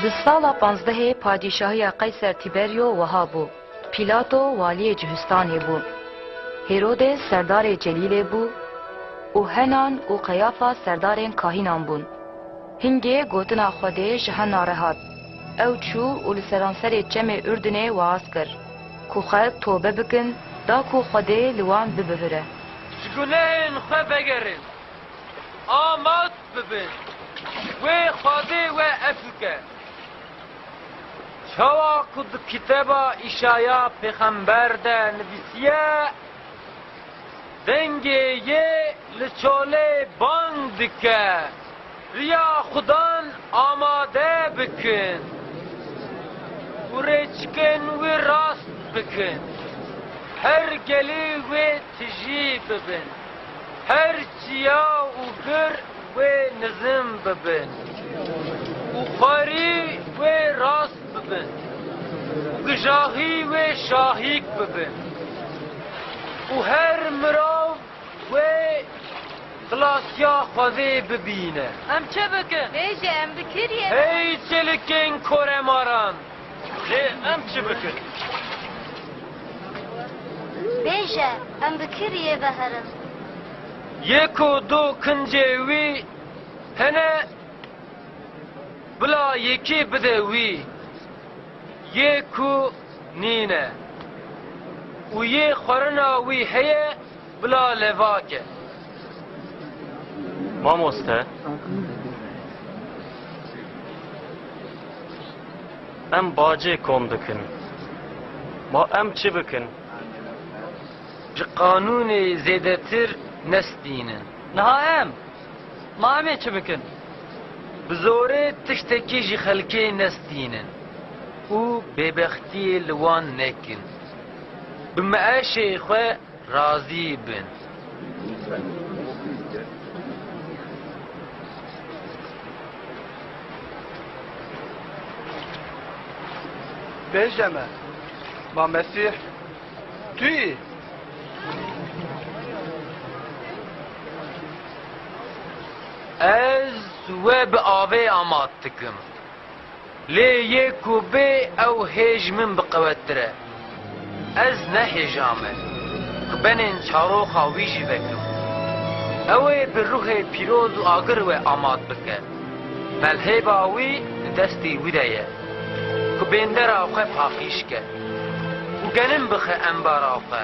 Di sala panzdehê padîşahiya Qeyser Tîberyo wiha bû, Pîlato waliyê Cihûstanê bû, Hêrodê serdarê celîlê bû û Henan û Qeyafa serdarên kahînan bûn. Hingê gotina Xwedê ji Hena re hat, ew çû û li seranserê çemê Urdinê waaz kir, ku xelk tobe bikin da ku Xwedê li wan bibihire. Ji gunehên xwe vegerin. Amat. bibe. Wê xwedê we ev bike. Çawa ku di kitêba Îşaya pêxember de nivîsiye, Dengê yê li çolê bang dike, riya Xudan amade bikin û rêçikên wî rast bikin. Her gelî wê Ti jî bibin. Her çiya û bir wê nizm bibin. Û xwerî wê rast bibin. Û gijaxî wê şahîk bibin. Û her mirav wê xilasya Xwedê bibîne. Em çi bikin? Bêje em bi kirî ye. Hey çelikên koremaran! Lê em çi bikin? Bêje, em bi kî riyê veherin? Yê ku du kincê wî hene, bila yekî bide wî. Yê ku nîne û yê xwerina wî heye, Bila levake. Mamoste. Em bacê kom dikin. Ma em çi bikin? Ji qanûnê zêdetir nestînin. Niha em? Ma em ê çi bikin? Bi zorê tiştekî ji xelkê nestînin û bêbextiyê li wan nekin. Bi meeşê xwe Razî bin. Bêje me, Ma Mesîh tu yî? Ez we bi avê amat dikim. Lê yê ku bê ew hêj min biqewettir e. Ez ne hêja me ku benên çaroxa wî jî vekim. Ew ê bi ruhê pîroz û agir we amat bike. Pelhêva wî di destê wî de ye ku bêndera xwe paqîj ke û genim bixe embara xwe.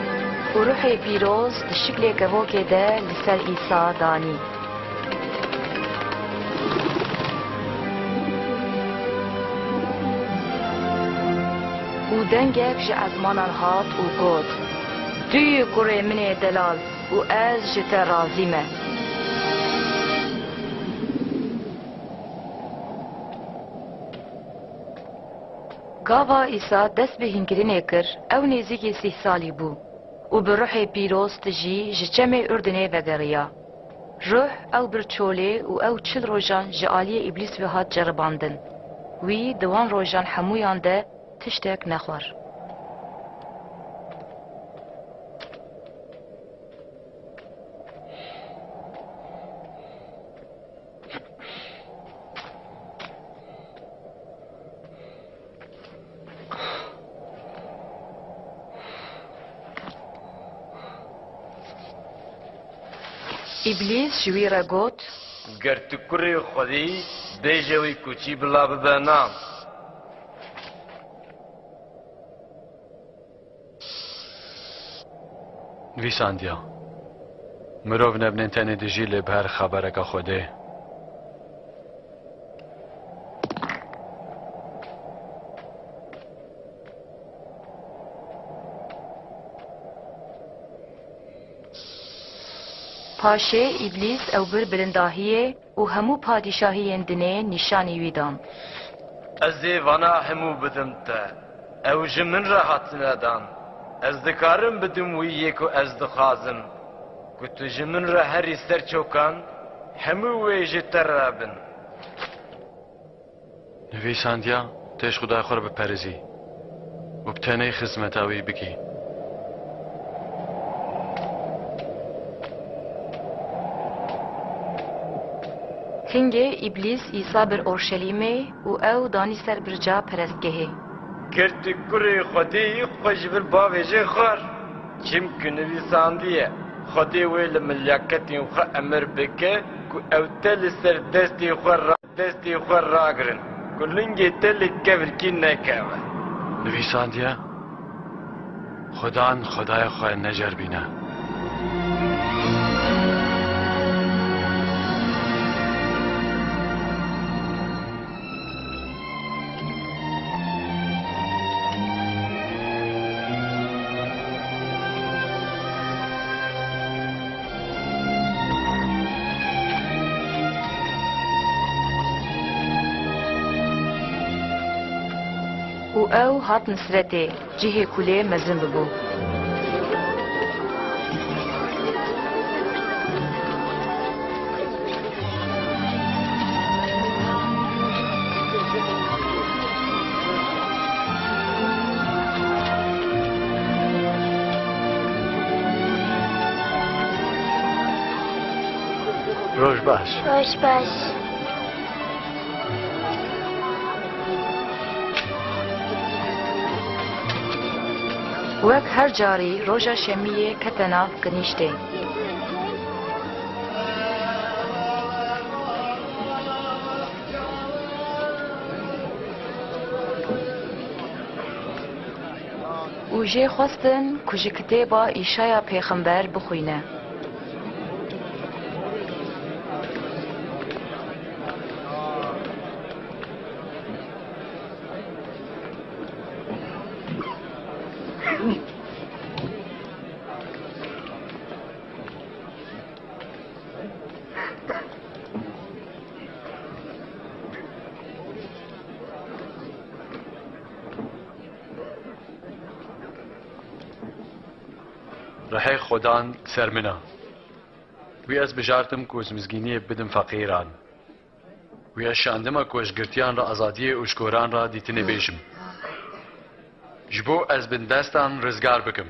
Û ruhê pîroz di şiklê kevokê de li ser Îsa danî. Û dengek ji ezmanan hat û got, Tu yî kurê min ê delal û ez ji te razî me. Gava Îsa dest bi hînkirinê kir, ew nêzîkî sîh salî bû û bi ruhê pîroz tijî ji çemê Urdinê vegeriya. Ruh ew bir çolê û ew çil rojan ji aliyê Îblîs ve hat ceribandin. Wî di wan rojan hemûyan de tiştek nexwar. Îblîs ji wî re got. Ger tu kurê Xwedî î, bêje wî ku çî bila bibe nam. Nivîsandiya, Mirov nebinên tenê dijî lê bi her xebereke Xwedê. Paşê, Îblîs, ew bir bilindahiyê, Û hemû padîşahiyên dinê nîşanî wî dan. Ez ê vana hemû bidim te. Ew ji min re hatine dan. Ez dikarim bidim wî yê ku ez dixwazim, ku tu ji min re herî ser çokan, hemû wê ji te re bin. Nivîsandiya têj xudaya xwe re biperîzî û bi tenê xizmeta wî bikî. Tingê Îblîs Îsa bir Orşelîmê û ew danî ser birca perestgehê. Girtî kurê Xwedê yî xwe ji vir bavêjê xwar, çimkî nivîsandiye, Xwedê wê li milyaketên xwe emir bike ku ew te li ser destê xwe ra. Destê xwe ragirin ku lingê te li kevirkî nekeve. Nivîsandiye, Xwedan xwedayê xwe neceribîne. û ew hatin Siretê, cihê ku lê mezin bibû. Roj baş. Roj baş. Wek her carî roja şemiyê kete nav kinîştê. û jê xwestin ku ji kitêba Îşaya Pêxember bixwîne. Rehê Xodan ser min a. Wî ez bijartim ku ji mizgîniyê bidim feqîran. Wî ez şandime ku ji girtiyan re azadiyê û ji koran re dîtinê bêjim. Ji bo ez bin destan rizgar bikim.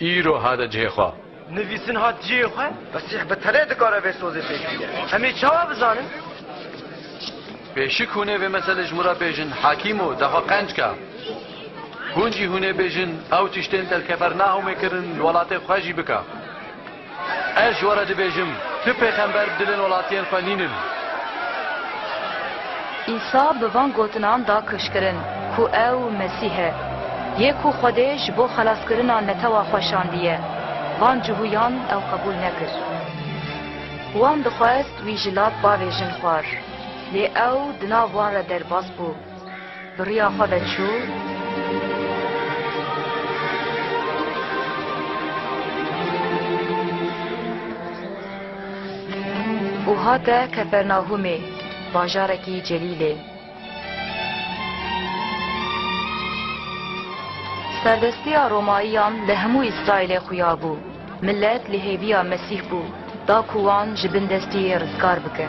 Îro hate cihê xwe. Nivîsin hat cihê xwe. Mesîh bi tenê dikare vê sozê pêş bîne. Em ê çawa bizanin? Pêşik hûn ê vê meselê ji min re bêjin Hakîmo, daxwe qenc ke. Hûn jî hûn ê bêjin ew tiştên te li Kefernahûmê kirin li welatê xwe jî bike. Ez ji we re dibêjim, tu pêxember bi dilên welatiyên xwe nîn in. Îsa bi van gotinan da kişkirin ku ew Mesîh e, yê ku Xwedê ji bo xelaskirina netewa xwe şandiye. Van cihûyan ew qebûl nekir. Wan dixwest wî ji lav bavêjin xwar, lê ew di nav wan re derbas bû. Bi riya xwe ve çû. Û hate Kefernahûmê, bajarekî celîlê. Serdestiya Romayiyan li hemû Îsraîlê xuya bû. Milet li hêviya Mesîh bû, da ku wan ji bin destê yê rizgar bike.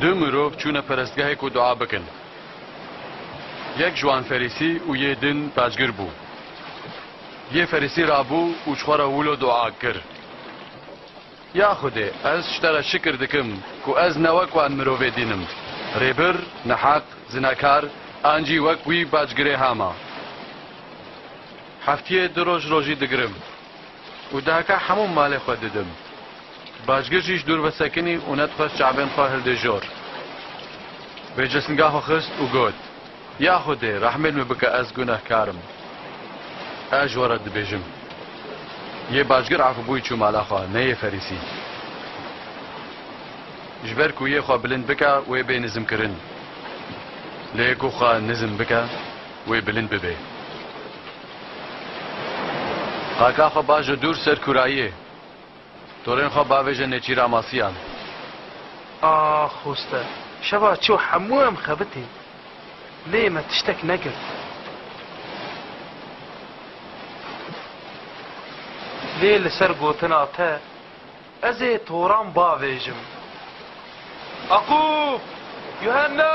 Du mirov çûne perestgehê ku dua bikin. Yek ji wan ferîsî û yê din pacgir bû. Yê ferîsî rabû û ji xwe re wilo dua kir, Ya Xwedê, ez ji te re şikir dikim ku ez ne wek wan mirovê din im, rêbir, neheq, zinekar an jî wek wî pacgirêha me. Heftiyê du roj rojî digirim. Û deheka hemû malê xwe didim. Bajgir jî ji dûr vesekinî û nedixwest çavên xwe hildê jor. Vê cisnga xwe xist û got, Ya Xwedê, rehmêl min bike ez gunehkar im. Ez ji we re dibêjim. Yê bajgir afibûyî çû mala xwe, ne yê ferîsî. Ji ber ku yê xwe bilind bike wê bê nizmkirin. Lê ku xwe nizm bike wê bilind bibe. Qaka xwe ba ji dûr ser kûrayiyê. Torên xwe bavêje Nêçîra Masiyan. Ax hoste, şeva çû hemû em xebitî. Lê me tiştek nekir. Lê li ser gotina te ez ê toran bavêjim. Aqub! Yuhenna!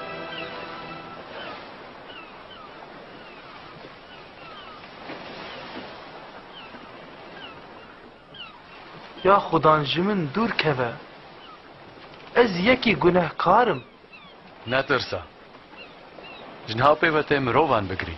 Ya xudan ji min dûr keve. Ez yekî gunehkar im. Netirsa. Ji niha pê ve tê mirovan bigirî.